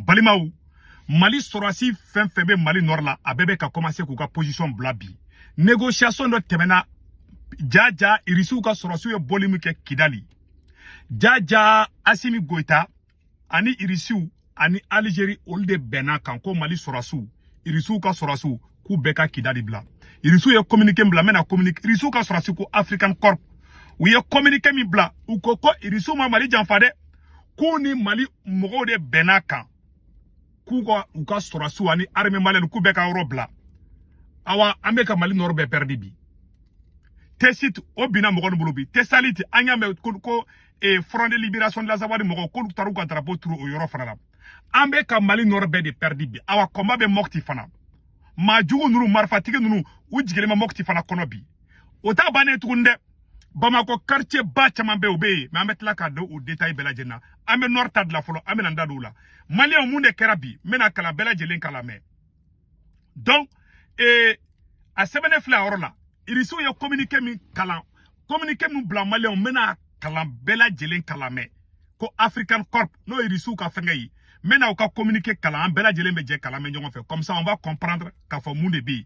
balimaw mali sɔrɔsi fɛn fɛn bɛ mali nɔrɔ la a bɛɛ bɛ ka kɔmanse k'u ka posisɔn bila bi negosiyasɔn dɔ tɛmɛna jaja irisiw ka sɔrɔsiw ye boli min kɛ kidali jaja asimi goyita ani irisiw ani alizeri olu de bɛnn'a kan ko mali sɔrɔsiw irisiw ka sɔrɔsiw k'u bɛɛ ka kidali bila irisiw ye kominike bila n bɛna kominike irisiw ka sɔrɔsi ko african corp u ye kominike min bila u ko ko irisiw ma mali janfa dɛ k'u ni mali mɔgɔw de bɛnn'a kan k'u ka u ka sɔrɔsiw ani armée malienne k'u bɛɛ ka yɔrɔ bila awa an bɛ ka mali nɔrɔ bɛɛ pɛridi bi tesit o binna mɔgɔ ninnu bolo bi tesaliti an y'a mɛn ko, ko eh, front de liberation de l'azawad mɔgɔ k'olu taar'u ka drapeau turu o yɔrɔ fana la an bɛ ka mali nɔrɔ bɛɛ de pɛridi bi awa kɔnba bɛ mɔkiti fana maa jugu ninnu marifatigi ninnu u jigilen bɛ mɔkiti fana kɔnɔ bi o t'a bannen tuguni dɛ bamakɔ quartier ba caman bɛ o bɛ yen mɛ an bɛ tila ka don o detail bɛɛ lajɛlen na an bɛ nord ta de la fɔlɔ an bɛna an da don o la maliyɛnw mun de kɛra bi n bɛn'a kalan bɛɛ lajɛlen k'a lamɛn donc ee a sɛbɛnnen filɛ a yɔrɔ la irisiw ye communiqué min kalan communiqué min bila maliyɛnw n bɛn'a kalan bɛɛ lajɛlen k'a lamɛn ko african corp n'o ye irisiw ka fɛngɛ ye n bɛna u ka communiqué kalan an bɛɛ lajɛlen bɛ jɛ k'a lamɛn ɲɔgɔn fɛ comme ça on va comprendre k'a fɔ mun de bɛ yen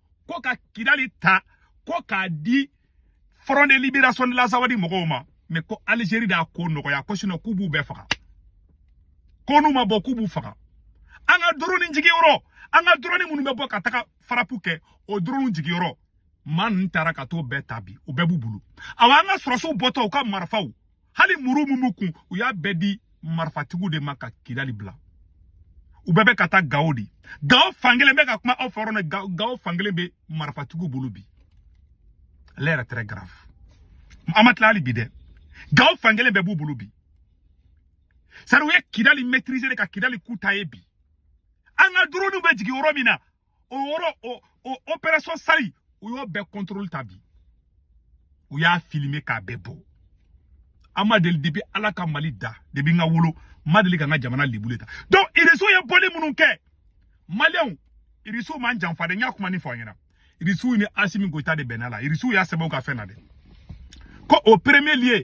ko ka kidali ta ko k'a di front de libération de l'azawadi mɔgɔw ma mais ko algérie d'a ko nɔgɔya ko sinon k'u b'u bɛɛ faga ko n'u ma bɔ k'u b'u faga an ka doroni jigiyɔrɔ an ka doroni minnu bɛ bɔ ka taga farapu kɛ o doroniw jigiyɔrɔ maa ninnu taara ka t'o bɛɛ ta bi o bɛɛ b'u bolo awa an ka sɔrɔsiw bɔtɔ u ka marifaw hali muru min b'u kun u y'a bɛɛ di marifatigiw de ma ka kidali bila u bɛɛ bɛ ka taa gawo de gawo fankelen n bɛ ka kuma aw fɛ yɔrɔ min gawo fankelen bɛ marifatigiw bolo bi l'heure est très grave an ma tila hali bi dɛ gawo fankelen bɛɛ b'u bolo bi sari u ye kidali maîtriser de ka kidali ku ta ye bi an ka drone bɛ jigin yɔrɔ min na o yɔrɔ o o operation sali u y'o bɛɛ contrôle ta bi u y'a filmer k'a bɛɛ bɔ an ma deli depuis ala ka mali da depuis n ka wolo n ma deli ka n ka jamana lebulen tan donc irisiw ye boli minnu kɛ maliyɛnw irisiw m'an janfa dɛ n y'a kuma nin fɔ aw ɲɛna irisiw ni asimi goyita de bɛnn'a la irisiw y'a sɛbɛn u ka fɛn na dɛ ko au premier lieu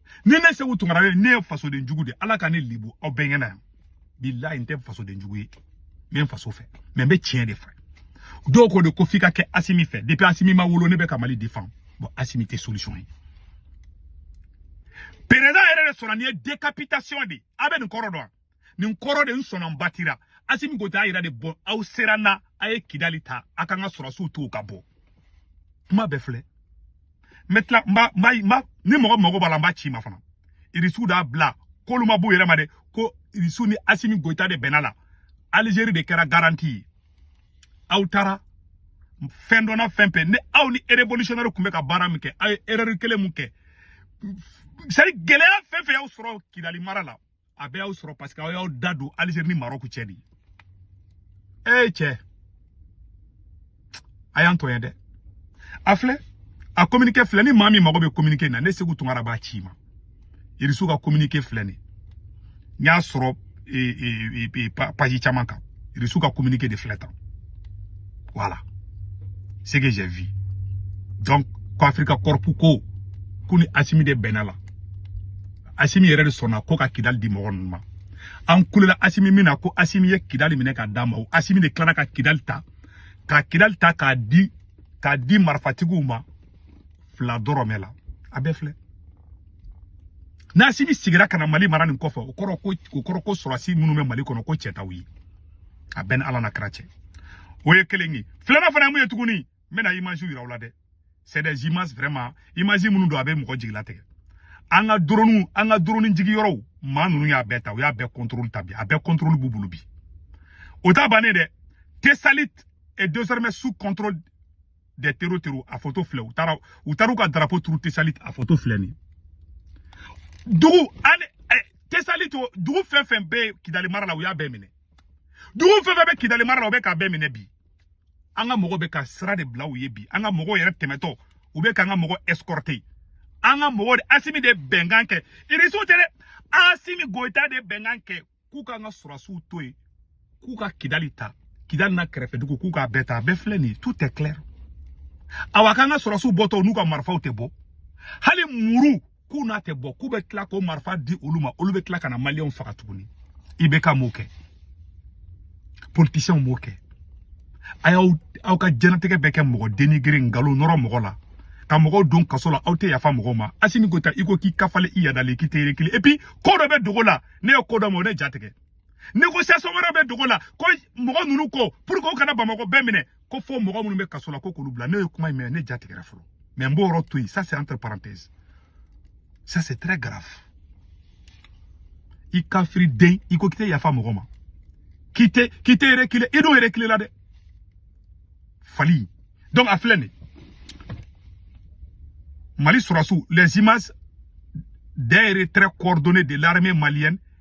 ni ne seku tunkara ne ye fasoden jugu de ala ka ne lebu aw bɛɛ ɲɛna yan bilayi n tɛ fasoden jugu ye n bɛ n faso fɛ mɛ n bɛ tiɲɛ de fɛ dɔw ko de ko f'i ka kɛ asimi fɛ depuis asimi ma wolo ne bɛ ka mali defan bon asimi tɛ solution ye perezidan yɛrɛ de sɔnna nin ye décapitation de aw bɛ nin kɔrɔ dɔn nin kɔrɔ de n sɔnna n batira asimi goyita a yira de bɔ aw sera na a ye kidali ta a k'an ka sɔrɔsiw to ka bɔ kuma bɛɛ filɛ n bɛ tila n b'a n b'a ni mɔgɔ mago b'a la n b'a ci i ma fana irisiw d'a bila k'olu ma b'u yɛrɛ ma dɛ ko irisiw ni asimi goyita de bɛnna la alizeri de kɛra garanti ye aw taara fɛn dɔ na fɛn fɛn ni aw ni revolutionnaire tun bɛ ka baara min kɛ aw ye erreur kelen min kɛ sari gɛlɛya fɛn fɛn y'aw sɔrɔ kidali mara la a bɛɛ y'aw sɔrɔ parce que aw y'aw da don Algérie ni Maroc cɛ de ee cɛ a y'an to yen dɛ a filɛ a communiqué filɛ ni maa min mago bɛ communiqué na ne Segu Tunkara b'a ci i ma Irisu ka communiqué filɛ nin n y'a sɔrɔ page caman kan Irisu ka communiqué de filɛ tan voilà ce que j'ai vu donc ko Afrika kɔrɔpu ko k'u ni Asimi de bɛnna la asimi yɛrɛ de sɔnna ko ka kidali di mɔgɔ ninnu ma an kulela asimi min na ko asimi ye kidali minɛ k'a d'an ma o asimi de tilara ka kidali ta ka kidali ta k'a di k'a di marifatigiw ma fila dɔrɔmɛ la a bɛɛ filɛ n'asimi sigira ka na mali mara nin kɔfɛ o kɔrɔ ko o kɔrɔ ko sɔrɔsi minnu bɛ mali kɔnɔ ko cɛ t'aw ye a bɛɛ ni ala n'a kira cɛ o ye kelen ye filanan fana ye mun ye tuguni n bɛna image yira aw la dɛ c'est des images vraiment image minnu don a bɛ mɔgɔ jigi latigɛ an ka drone an ka drone jigi yɔrɔw maa ninnu y'a bɛɛ ta u y'a bɛɛ contrôle ta bi a bɛɛ contrôle b'u bolo bi o ta bannen dɛ Tessalit est désormais sous contrôle des terros terros a photo filɛ u taara u taara u ka drapeau turu Tessalit a photo filɛ nin dugu ani eh, Tessalit o dugu fɛn fɛn bɛ Kidali mara la u y'a bɛɛ minɛ dugu fɛn fɛn bɛ Kidali mara la u bɛ k'a bɛɛ minɛ bi an ka mɔgɔ bɛ ka sira de bila u ye bi an ka mɔgɔw yɛrɛ tɛmɛtɔ u bɛ k'an ka mɔgɔ escorter an ka mɔgɔ de asimi de bɛnkan kɛ irisiw tɛ dɛ asimi goyita de bɛnkan kɛ k'u k'an ka sɔrɔsiw to yen k'u ka kidali ta kidali n'a kɛrɛfɛ dugu k'u k'a bɛɛ ta a bɛɛ filɛ nin ye tout est clair awa k'an ka sɔrɔsiw bɔtɔ n'u ka marifaw tɛ bɔ hali muru k'u n'a tɛ bɔ k'u bɛ tila k'o marifa di olu ma olu bɛ tila ka na maliyɛnw faga tuguni IBK m'o kɛ politisiyɛnw m'o kɛ a y'aw ka diɲɛnatigɛ bɛɛ kɛ mɔgɔ dénigrer nkalon nɔrɔ mɔgɔ la ka mɔgɔw don kaso la aw tɛ yafa mɔgɔw ma asimi goyita i ko k'i kafalen i yadalen k'i tɛ reculer et puis ko dɔ bɛ dogo la ne ye ko dɔ mɛn o ne ja tigɛ négociation wɛrɛ bɛ dogo la ko mɔgɔ ninnu ko pour que u kana bamakɔ bɛɛ minɛ ko fo mɔgɔ minnu bɛ kaso la ko k'olu bila ne ye kuma in mɛn ne ja tigɛra fɔlɔ mais n b'o yɔrɔ to yen ça c'est entre parenthèse ça c'est très grave i kafiri den i ko k'i tɛ yafa mɔgɔ ma k'i tɛ k'i tɛ reculer i dun reculer la dɛ fali donc a filɛ nin ye Mali sɔrɔsiw les images d'un retrait coordonné de l'armée malienne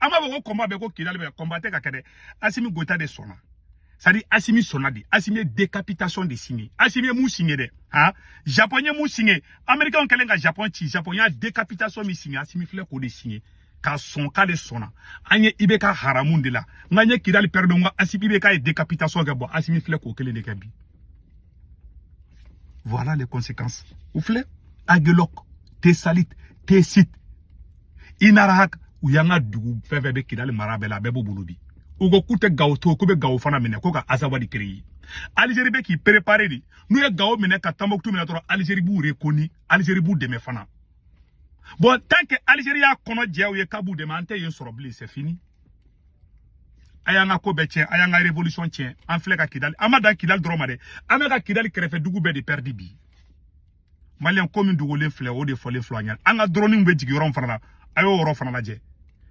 an m'a fɔ ko combat bɛ ko kidali bɛ combat tɛ ka kɛ dɛ asimi goyita de sɔnna c'est-à-dire asimi sɔnna de asimi ye décapitation de signé asimi ye mun signé dɛ ha japon ye mun signé américain kɛlen ka japon ci japon y'a décapitation min signé asimi filɛ k'o de signé ka sɔn k'ale sɔnna an ye ibk haramu de la nka an ye kidali pɛrɛdi nka asimi ibk ye décapitation kɛ bon asimi filɛ k'o kelen de kɛ bi Voilà les conséquences. O filɛ Aguelhok, Tessalit, Tessit. Inarahak, u y'an ka dugu, fɛn fɛn bɛ Kidali mara bɛɛ la, bɛɛ b'u bolo bi. U ko k'u tɛ Gao to, k'u bɛ Gao fana minɛ, ko ka Azawadi créer. Algérie bɛ k'i préparer de n'u ye Gao minɛ ka Tombouctou minɛ dɔrɔn Algérie b'u reconnu Algérie b'u dɛmɛ fana bon tant que Algérie y'a kɔnɔ jɛ u ye k'a b'u dɛmɛ an tɛ yen sɔrɔ bilen c'est fini a y'an ka ko bɛɛ tiɲɛ a y'an ka révolution tiɲɛ an filɛ ka kidali an ma dan kidali dɔrɔn ma dɛ an bɛ ka kidali kɛrɛfɛ dugu bɛɛ de pɛridi bi maliyɛn ko min dogolen filɛ o de fɔlen filɛ an ɲɛna an ka dɔrɔniw bɛ jigin yɔrɔ min fana na a y'o yɔrɔ fana lajɛ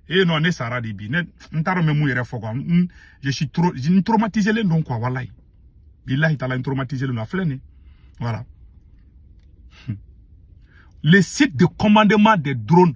ee non ne sara de bi ne n t'a dɔn n bɛ mun yɛrɛ fɔ quoi n je suis trop n traumatisé len don quoi walayi bilahi taala n traumatisé len don a filɛ nin voilà le site de commandement des drones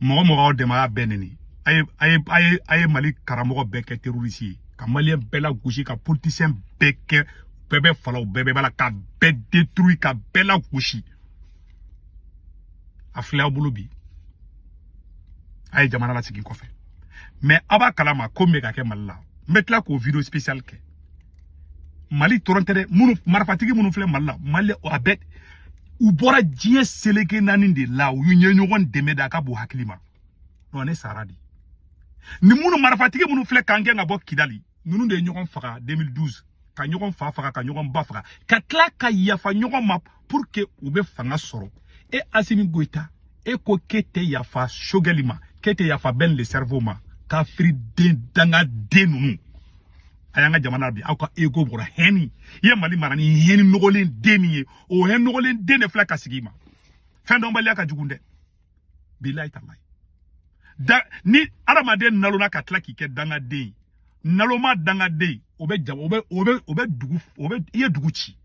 mɔgɔ mɔgɔ aw dɛmɛ a y'a bɛɛ neni a ye a ye a ye a ye mali karamɔgɔ bɛɛ kɛ terroriste ye ka maliyɛn bɛɛ lagosi ka politisiyɛn bɛɛ kɛ bɛɛ bɛ fa la o bɛɛ bɛ ba la ka bɛɛ détruit ka bɛɛ lagosi a filɛ aw bolo bi a ye jamana lasegin kɔfɛ mais aw b'a kalama ko min bɛ ka kɛ mali la n bɛ tila k'o vidéo spécial kɛ mali dɔrɔn tɛ dɛ minnu marifatigi minnu filɛ mali la mali a bɛɛ u bɔra diɲɛ seleke naani de la u ye ɲɔgɔn dɛmɛ de a ka bon hakili ma non ne sara de ni minnu marifatigi minnu filɛ k'an gɛn ka bɔ kidali ninnu de ye ɲɔgɔn faga 2012 ka ɲɔgɔn fa faga ka ɲɔgɔn ba faga ka tila ka yafa ɲɔgɔn ma pour que u bɛ fanga sɔrɔ e asimi goyita e ko k'e tɛ yafa sogɛli ma k'e tɛ yafa ben le cerveau ma kafiri den dangaden ninnu a y'an ka jamana bin aw ka ego bɔra haine i ye mali mara ni haine nɔgɔlen den min ye o haine nɔgɔlen den de filɛ ka sigi i ma fɛndɔnbaliya ka jugu dɛ bilayi talayi da ni adamaden nalonna ka tila k'i kɛ dangaden ye naloma dangaden o bɛ jama o bɛ o bɛ o bɛ dugu o bɛ i ye dugu ci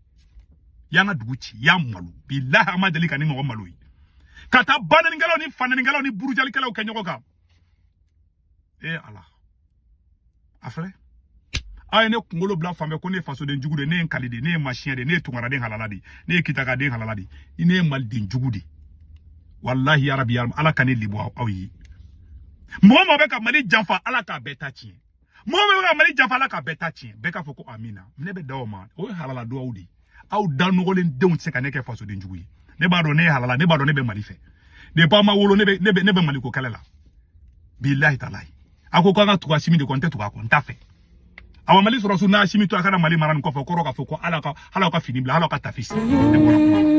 y'an ka dugu ci y'a malo bilahi an ma deli ka nin ɲɔgɔn malo ye ka taa banenikɛlaw ni fanenikɛlaw ni burujalikɛlaw kɛ ɲɔgɔn kan ee ala a filɛ a ye ne kunkolo bila fan bɛɛ ko ne ye fasoden jugu de ne ye nkali de ne ye machin de ne ye tungaraden halala de ne ye kitakaden halala de ne ye maliden jugu de walahi yarabi yarabi ala ka ne libɔ aw ye mɔgɔ mɔgɔ bɛ ka mali janfa ala k'a bɛɛ ta tiɲɛ mɔgɔ mɔgɔ bɛ ka mali janfa ala k'a bɛɛ ta tiɲɛ bɛɛ k'a fɔ ko amina ne bɛ da o ma o ye halala duwawu de ye aw da nɔgɔlen denw tɛ se ka ne kɛ fasoden jugu ye ne b'a dɔn ne ye halala ne b'a dɔn ne bɛ mali fɛ depuis aw ma wolo ne bɛ maliko kɛlɛ la bilahi talahi a ko k'an ka tugu asimi de kɔ n tɛ tugu a kɔ n t'a fɛ awa mali sɔrɔsu n'asimi to a kana mali mara nin kɔfɛ kɔrɔ k'a fɔ ko ale ka ale ka fini bila ale ka tafi sa ne bɔra kuma